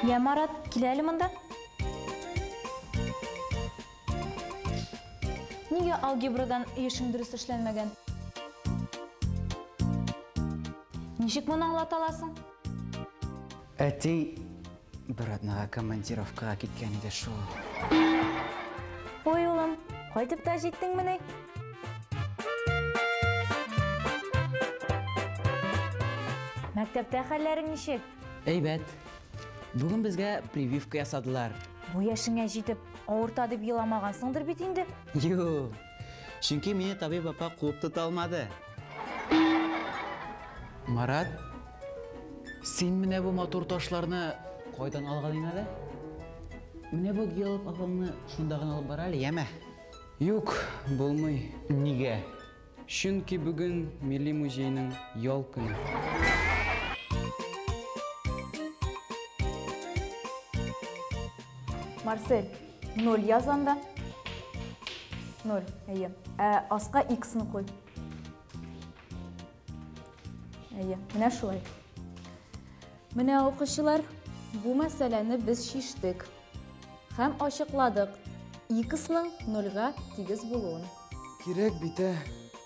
Йә, Марат, кил әле монда. Нигә алгебрадан ешың дөрес эшләнмәгән? Ничек моны аңлата аласың? Әти бер атнага командировкага киткән иде шул. Ой, улым, кайтып та җиттеңмени? Мәктәптә хәлләрең ничек? Әйбәт. Бүген безгә прививка ясадылар. Бу яшеңә җитеп, авырта дип еламагансыңдыр бит инде? Юк. Чөнки мине табиб апа куып тота алмады. Марат, син менә бу матур ташларны кайдан алган иң әле? Менә бу геолог апаңны шунда гына алып бар әле, яме. Юк, булмый. Нигә? Чөнки бүген Милли музейның ял көне. Марсель, 0 яз анда. 0, әйе. Ә аска x-ны куй. Әйе, менә шулай. Менә укучылар, бу мәсьәләне без шиштек һәм ачыкладык x-ның 0 га тигез булуын. Кирәк бит, ә?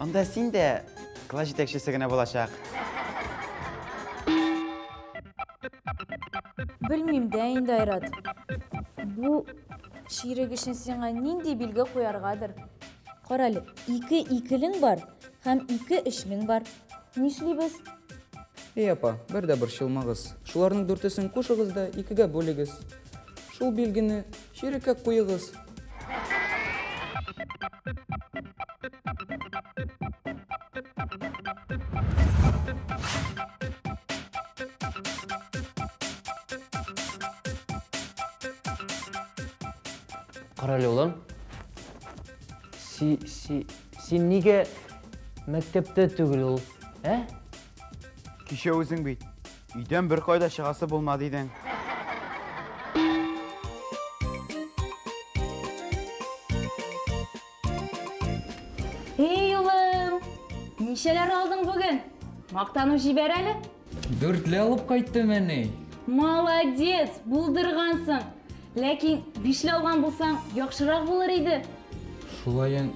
Анда син дә класс җитәкчесе генә булачак. Белмим дә инде, Айрат. Бу ширек өчен сиңа нинди билге куяргадыр? Кара әле, ике икелең бар һәм ике эшлең бар. Нишлибез? Эй, апа, бер дә борчылмагыз. Шуларның дүртесен кушыгыз да икегә бүлегез. Шул билгене Череккә куегыз. Карале улым. Си си син нигә мәктәптә түгел ул? Ә? Кичә үзең бит. Өйдән бер кайда чыгасы булмады идең. Эй, улым! Ничәләр алдың бүген? Мактану җибәр әле. Дүртле алып кайттым, әни. Молодец, булдыргансың. Ләкин бишле алган булсаң, яхшырак булыр иде. Шулаен,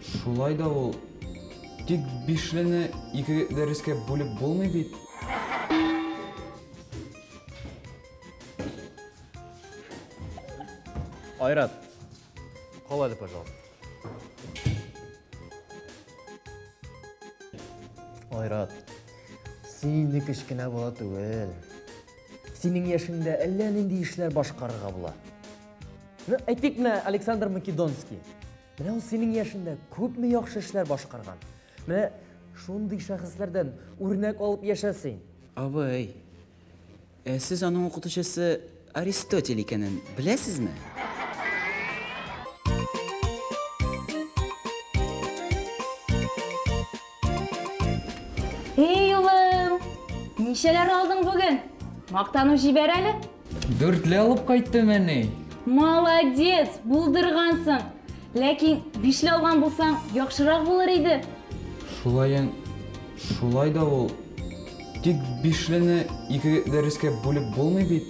шулай да ул Тик бишлене ике дәрескә бүлеп булмый бит. Айрат, кал әле, пожалуйста. Айрат, син инде кечкенә бала түгел. Синең яшеңдә әллә нинди эшләр башкарырга була. Ну, әйтик менә Александр Македонский. Менә ул синең яшендә күпме яхшы эшләр башкарган. Менә шундый шәхесләрдән үрнәк алып яшә син. Абый, ә сез аның укытучысы Аристотель икәнен беләсезме? Эй, улым! Ничәләр алдың бүген? Мактану җибәр әле. Дүртле алып кайттым, әни. Молодец, булдыргансың. Ләкин бишле алган булсаң, яхшырак булыр иде. Шулаен, шулай да ул. Тик бишлене ике дәрескә бүлеп булмый бит.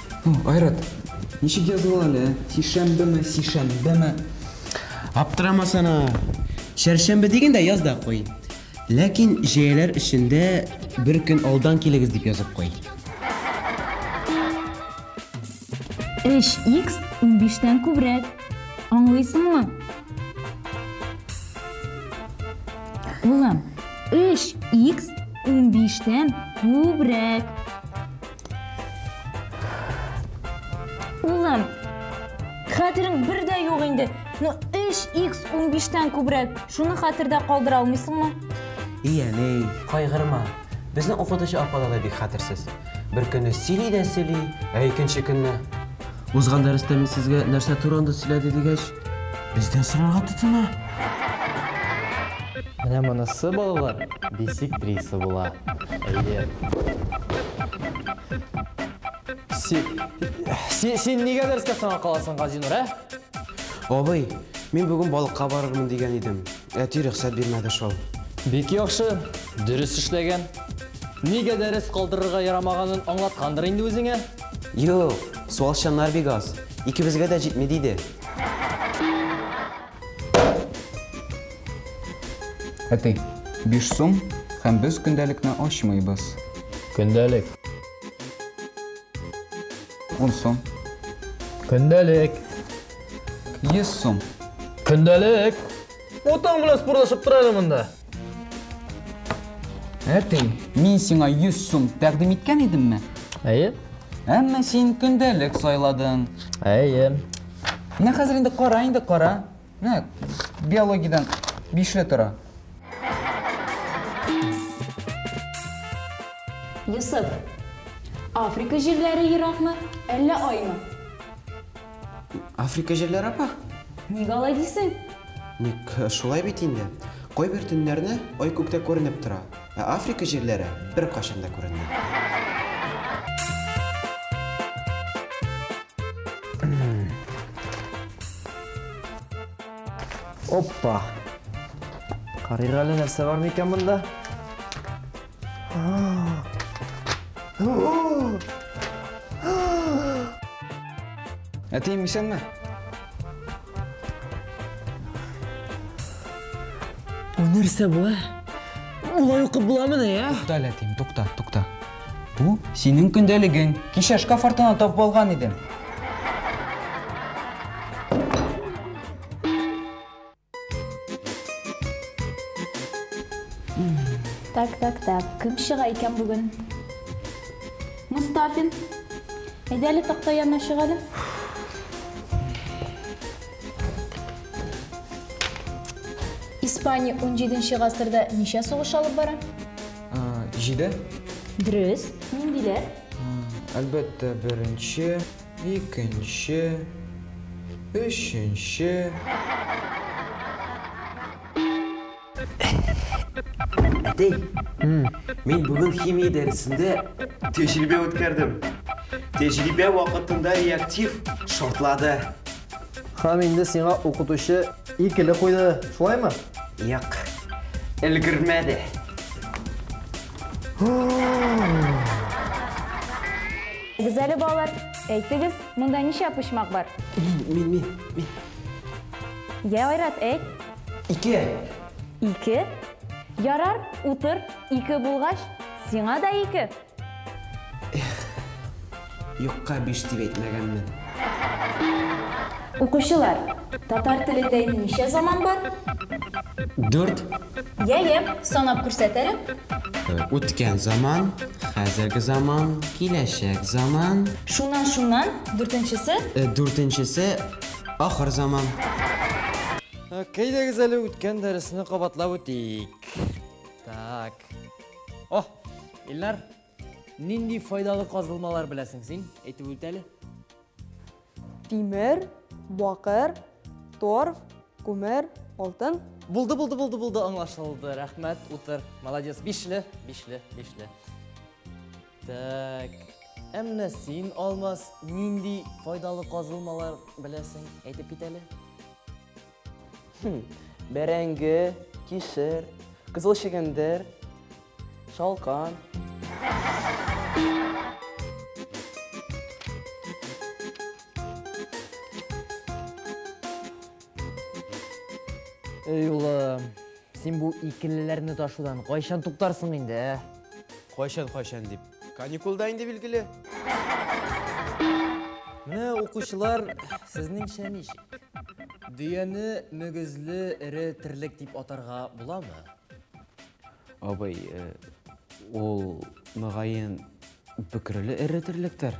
Айрат, ничек языла әле? Сишәмбеме, сишәмбеме? Аптырама сана. Чәршәмбе дигәндә яз да куй. Ләкин җәяләр эчендә бер көн алдан килегез дип язып куй. 3x 15-тән күбрәк. Аңлыйсыңмы? Улым, 3x 15-тән күбрәк. Улым, хәтерең бер дә юк инде. Ну, 3x 15-тән күбрәк. Шуны хәтердә калдыра алмыйсыңмы? И, әней, кайгырма. Безнең укытучы апада да бик хәтерсез. Бер көнне сөйли дә сөйли, ә икенче көнне Узган дәрестә мин сезгә нәрсә турында сөйләде дигәч, Бездән сорарга тотына. Менә монысы балалар бисектриса була. Әйе. Си... Си, син нигә дәрескә соңга каласың, Газинур, ә? Абый, мин бүген балыкка барырмын дигән идем. Әти рөхсәт бирмәде шул. Бик яхшы, дөрес эшләгән. Нигә дәрес калдырырга ярамаганын аңлаткандыр инде үзеңә. Юк, суалчаннар бик аз. Икебезгә дә җитми, диде. Әти, биш сум, һәм без көндәлекне ачмыйбыз. Көндәлек. Ун сум. Көндәлек. Йөз сум. Көндәлек. Утың белән спортлашып тора әле монда. Әтей, мин сиңа 100 сум тәкъдим иткән идемме? Әйе. Әмма син көндәлек сайладың. Әйе. Менә хәзер инде кара инде кара. Менә биологиядән бишле тора. Йосыф, Африка җирләре еракмы, әллә аймы? Африка җирләре апа? Ник алай дисең? Ник э, шулай бит инде. Кайбер төннәрне ай күктә күренеп тора, ә Африка җирләре бер кашын да күренми. Оппа! Карыйк әле нәрсә бар микән монда? Әтием исәнме? Бу нәрсә бу? Улай укып буламыни, я? Тукта, әтием, тукта, тукта. Бу синең көндәлегең. Кичә шкаф артына тап алган идем. Так, так, так. Кем чыга икән бүген? Мустафин. Әйдә әле такта янына чык әле. Испания 17 гасырда ничә сугыш алып бара? Җиде. Дөрес. Ниндиләр? Әлбәттә, беренче. Икенче, өченче. Әтәй, мин бүген химия дәресендә тәҗрибә үткәрдем. Тәҗрибә вакытында реактив шартлады. Һәм инде сиңа укытучы икеле куйды, шулаймы? Як, өлгермәде. Әйдәгез әле, балалар, әйтегез, монда ничә почмак бар? Мин, мин, мин. Йә, Айрат, әйт. Ике. Ике? Ярар, утыр, ике булгач, сиңа да ике. Юкка биш дип әйтмәгәнмен. Укучылар, татар телендә ничә заман бар? Дүрт. Я, я, санап күрсәт әле. Үткән заман, хәзерге заман, киләчәк заман. Шуннан, шуннан, дүртенчесе? Дүртенчесе, ахыр заман. Кәйдәгез әле үткән дәресне кабатлап үтик. Так. О, Илнар, Нинди файдалы казылмалар беләсең син? Әйтеп үт әле. Тимер, бакыр, торф, күмер, алтын. Булды, булды, булды, булды, аңлашылды. Рәхмәт, утыр. Молодец, бишле, бишле, бишле. Так. Әмма син, Алмаз, нинди файдалы казылмалар беләсең? Әйтеп кит әле. Хм, бәрәңге, кишер, кызыл чегендер, шалкан. Эй, улым, син бу икелеләрне ташудан кайчан туктарсың инде, ә? Кайчан-кайчан дип. Каникулда инде билгеле. Менә укучылар, сезнең шәмиш. Дөяне мөгезле эре терлек дип атарга буламы? Абый, э, ул мөгаен бөкреле эре терлектер.